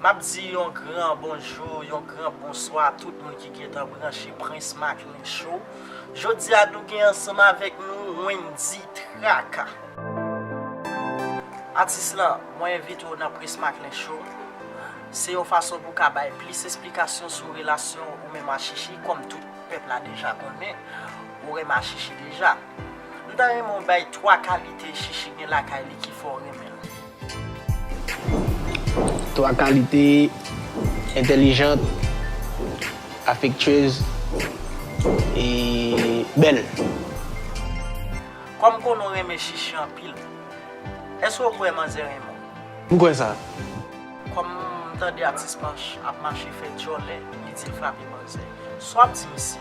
Map di yon gran bonjou, yon gran bonswa a tout moun ki gentan branche Prince Macklin Show. Jodi a nou gen ansanm avèk nou Wendy Traka. Atis lan, mwen envite w nan Prince Macklin Show. Se yon fason pou w ka bay plis esplikasyon sou relasyon ou menm a Shishi kòm tout pèp la deja konnen ou renma Shishi deja. M ta renmen w bay 3 kalite Shishi gen lakay li ki fè w renmen l. Twa kalite, entelijant, afektyez, e bèl. Kòm m konnen w renmen Shishi anpil, èske w kwè manzè renmen w? M kwè sa. Kòm m tande atis Panch ap mache fè djòlè, li di l frape manzè, sa w ap di misye?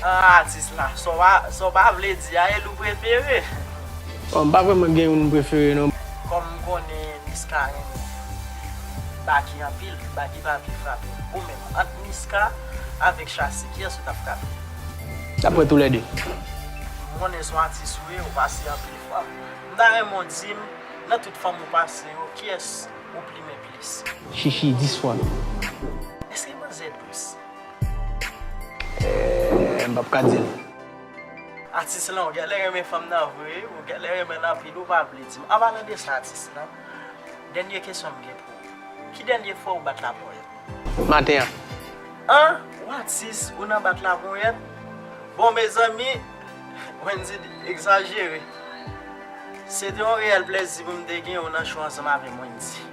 Ahh atis la, sa w pa vle di a e l ou prefere? Bon m pa vrèman gen youn m prefere non. Kòm m konnen Niska renmen Baky anpil, Baky pa vle frape. Ou menm, ant Niska avèk Shassy kiyès ou t ap frape? T ap pran toulède. M konnen s on atis ou ye, ou pase anpil fanm. M ta renmen w di m, nan tout fanm ou pase yo, kiyès ou plimen plis? Shishi 10 fwa non. Eske manzè dous? Eeh m pap ka di l. Atis lan ou gèlè renmen fanm nan vre ou gèlè renmenl anpil ou pa vle dim an palan de sa atis lan dènye kesyon m gen pou ou ki dènye fwa ou bat la ponyèt. Maten an. An! Ou atis ou nan bat la ponyèt bon mezanmi Wendy egzajere se te yon reyèl plèzi pou m te gen ou nan show ansanm avè m Wendy.